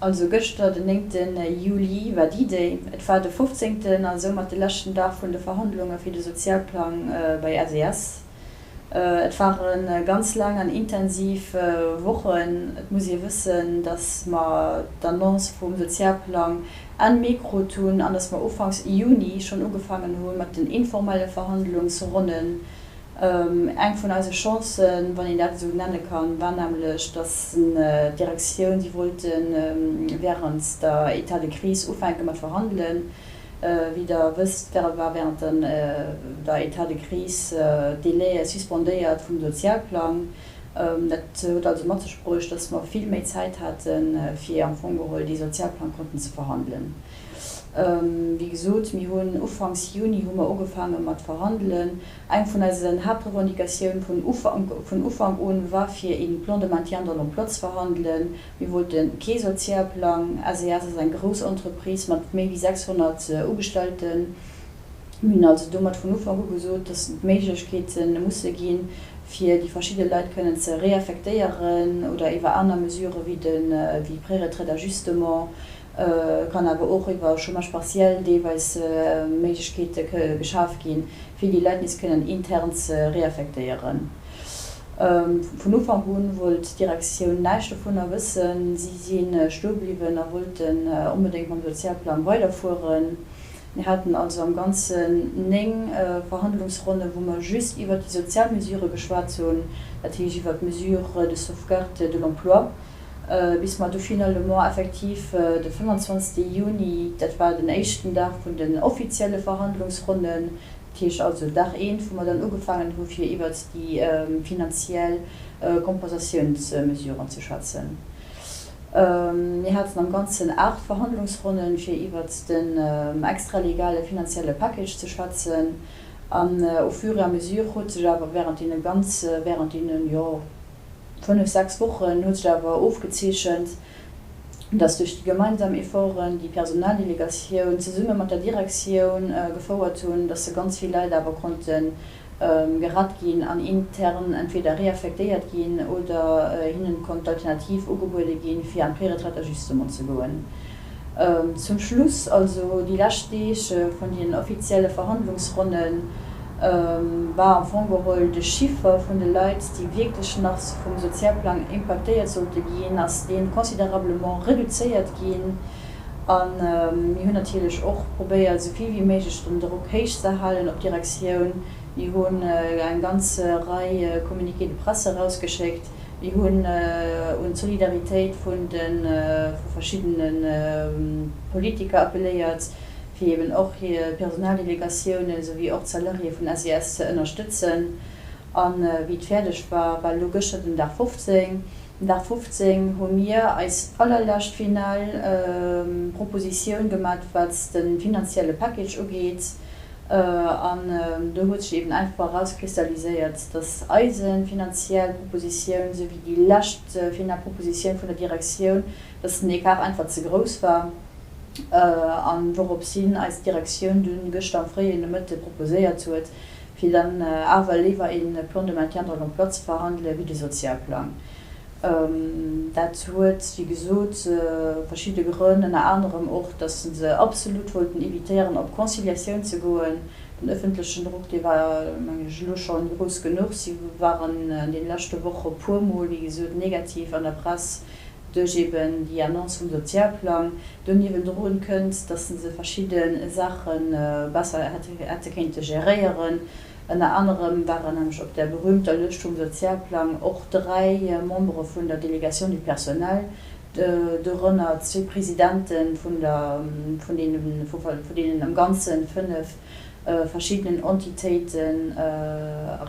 Also gëschter, den néngten Juli, war D-Day. Et war de fofzéngten a soumat de leschten Dag vun de Verhandlunge fir de Sozialplang bei SES. Et ware ganz laang an intensiv Wochen. Et muss ee wëssen, datt mer d'Annonce vum Sozialplang Enn Mee krut hunn an datt mer ufanks Juni schonn ugefaangen hu mat den informelle Verhandlungsronnen. Eng vun eise Chancen, wann een dat esou nenne kann, war nämlech, datt d'Direktioun, déi wollten wärend der Etat de crise ufänke mat verhandelen, Wéi der wësst, war während der Etat de crise d'Délai suspendéiert vum Sozialplang. Dat huet also mat sech bruecht, dass mer vill méi Zäit haten, fir am Fong geholl dee Sozialplang konnten ze verhandelen. Wéi gesot, mir hunn ufanks Juni hu mer ugefaange mat verhandelen. Eng vun eisen Haaptrevendicatioun vun Ufank un war, fir ee Plan de maintien dans l'emploi ze verhandelen, Mir wollten kee Sozialplang. SAS ass eng grouss Entreprise mat méi wéi 600 Ugestallten. Mir hunn also domat vun Ufank u gesot, dass d'Méiglechkeete musse ginn, fir déi verschidde Leit kënnen ze reaffektéieren oder iwwer aner Mesurë wéi de Préretraite d'ajustement, kann awer och iwwer Chômage partiel deelweis Méiglechkeete geschaf ginn, fir déi Leit nees kënnen intern ze reaffektéieren. Vun Ufank u wollt d'Direktioun näischt dovunner wëssen. Si si stoe bliwwen a wollten onbedéngt mam Sozialplang weiderfueren. Mir haten also am Ganzen 9 Verhandlungsronnen, wou mer just iwwert déi sozial Mesurë geschwat hunn, dat heescht iwwert d'Mesure de sauvegarde de l'emploi, bis mer du finalement effektiv de 25 Juni, dat war den éischten Dag vun den offizielle Verhandlungsronnen, Dat heescht also Dag eent, wou mer dann ugefaangen hu fir iwwert déi finanziell Kompensatiounsmesuren ze schwätzen. Mir haten am Ganzen aacht Verhandlungsronnen, fir iwwert den extralegale finanzielle Package ze schwätzen. An au fur et à mesure huet sech awer während deene ganz, während deene, jo, Fënnef, sechs Wochen huet sech awer ofgezeechent, datt duerch déi gemeinsam Efforten, déi d'Personaldelegatioun zesumme mat der Direktioun gefouert hunn, datt se ganz vill Leit awer konnte gerett ginn an intern entweder reaffektéiert ginn oder hinne konnt d'Alternativ ugebuede ginn, fir an d'Préretraite-ajustement ze goen. Zum Schluss, also déi lescht Deeg vun den offizielle Verhandlungsronne war am Fong geholl de Chiffer vun de Leit, déi wierklech nach vum Sozialplang impaktéiert sollte ginn, ass dee considérablement reduzéiert ginn. A mir hunn natierlech och probéiert, esou vill wéi méiglech den Drock héich ze halen op d'Direktioun. Mir hunn eng ganz Rei Communiqués de presse erausgeschéckt. Mir hunn un d'Solidaritéit vun de vu verschiddene Politiker appeléiert, fir eben och hir Personaldelegatioune esou wéi och d'Salariéë vun SES ze ënnerstëtzen. A wéi et fäerdeg war, war elo gëschter den Dag 15, den Dag 15 hu mir eis allerlescht final Propositioun gemat, wat de finanzielle Package ugeet. An do huet sech eben einfach erauskristalliséiert, dass eise finanziell Propositioun souwéi déi lescht final Propositioun vun der Direktioun, dass den Ecart einfach ze grouss war. An dorops hin eis Direktioun dunn gëschter am fréien Nomëtte proposéiert huet, fir dann awer léiwer ee Plan de maintien dans l'emploi ze verhandelen wéi de Sozialplang. Dat huet, wéi gesot, verschidde Grënn, ënner anerem och, datt se se absolut wollten evitéieren, op Conciliatioun ze goen. Den ëffentlechen Drock, dee war, meng ech, elo schonn grouss genuch. Si waren an deene leschte Woche puermol, wéi gesot, negativ an der Press duerch eben déi Annonce vum Sozialplang. Do niewendru kënnt, datt se verschidde Saache besser hätte kéinte geréieren. Ënner anerem waren nämlech op der berühmter Lëscht vum Sozialplang och dräi Membere vun der Délégation du personnel, dorënner zwee Presidente vun deenen am Ganze fënnef verschiddenen Entitéiten,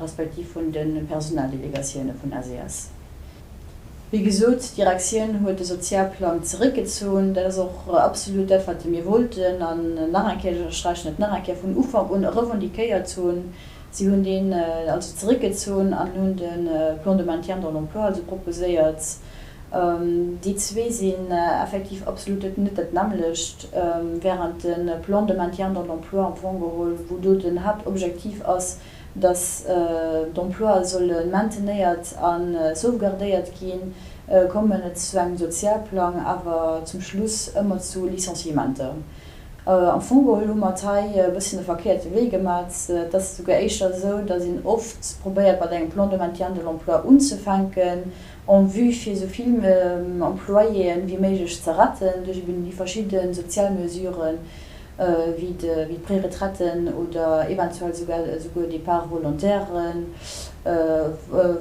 respektiv vun de Personaldélégatioune vun SES. Wéi gesot, d'Direktioun huet de Sozialplang zeréckgezunn. Dat ass och absolut dat, wat mir wollten. An nach eng Kéier, ech ënnersträichen et nach eng Kéier, vun Ufank un e revendiquéiert hunn. Si hunn deen also zeréckgezunn an hunn de Plan de maintien dans l'emploi also proposéiert. Déi zwee sinn effektiv absolut net dat nämmlecht, wärend de Plan de maintien dans l'emploi am Fong geholl, wou do den Haaptobjektiv ass, datt d'Emploie solle maintenéiert a sauvegardéiert ginn, kommen et zu engem Sozialplang awer zum Schluss ëmmer zu Licenciementer. Am Fong geholl hu mer et hei e bësschen de verkéierte Wee gemat. Et ass esouguer éischter esou, datt een oft probéiert mat engem Plan de maintien de l'emploi unzefänken en vue fir esou vill Employéen wéi méiglech ze retten duerch eben déi verschidde sozial Mesuren, wéi d'Préretraiten oder eventuell esouguer Départs volontairen,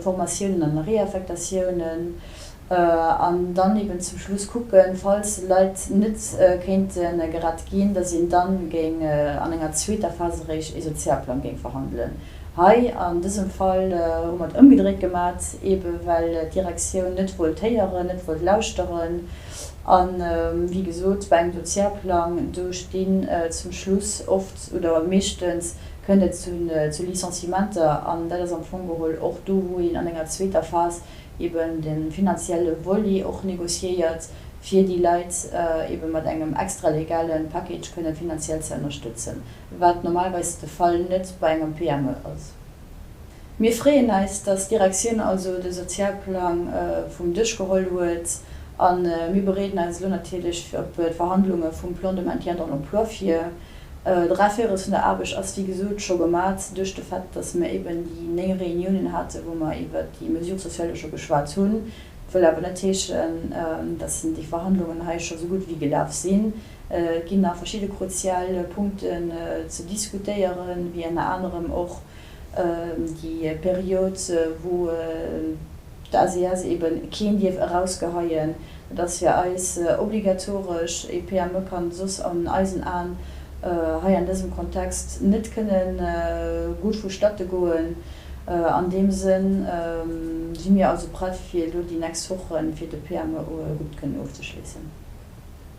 Formatiounen an Réaffektatiounen, an dann eben zum Schluss kucken, falls Leit net kéinte gerett ginn, dass een dann géing an enger zweeter Phas eréischt ee Sozialplang géing verhandelen. Hei an dësem Fall hu mer et ëmgedréit gemat, eben well d'Direktioun net wollt héieren, net wollt lauschteren, A wéi gesot, bei engem Dossier-Plang, do stinn zum Schluss oft oder meeschtens kënnt et zu Licenciementer. An dat ass am Fong geholl och do, wou een an enger zweeter Phas eben de finanzielle Volet och négociéiert, fir déi Leit eben mat engem extralegale Package kënnen finanziell ze ënnerstëtzen, wat normalerweis de Fall net bei engem PME ass. Mir freeën eis, dass d'Direktioun also de Sozialplang vum Dësch geholl huet a mir bereeden eis elo natierlech fir op d'Verhandlunge vum Plan de maintien dans l'emploi vir. D'Raféirus vun der Aarbecht ass wéi gesot scho gemat duerch de Fait, dass mir eben déi néng Reuniounen hate wou mer iwwert déi Mesures sociales scho geschwat hunn, wëll awer net heeschen, dass déi Verhandlungen hei scho sou gutt wéi gelaf sinn. Et ginn nach verschidde kruzial Punkten ze diskutéieren, wéi ënner anerem och, Déi Period, wou d'ACS eeben keen dierf erausgeheien, dat ass fir eis obligatoresch. Ee PME kann soss an eisen Aen hei an dësem Kontext net kënne gutt vu Statte goen. An deem Sënn si mir also prett, fir elo déi nächst Woche fir de PME gutt kënnen ofzeschléissen.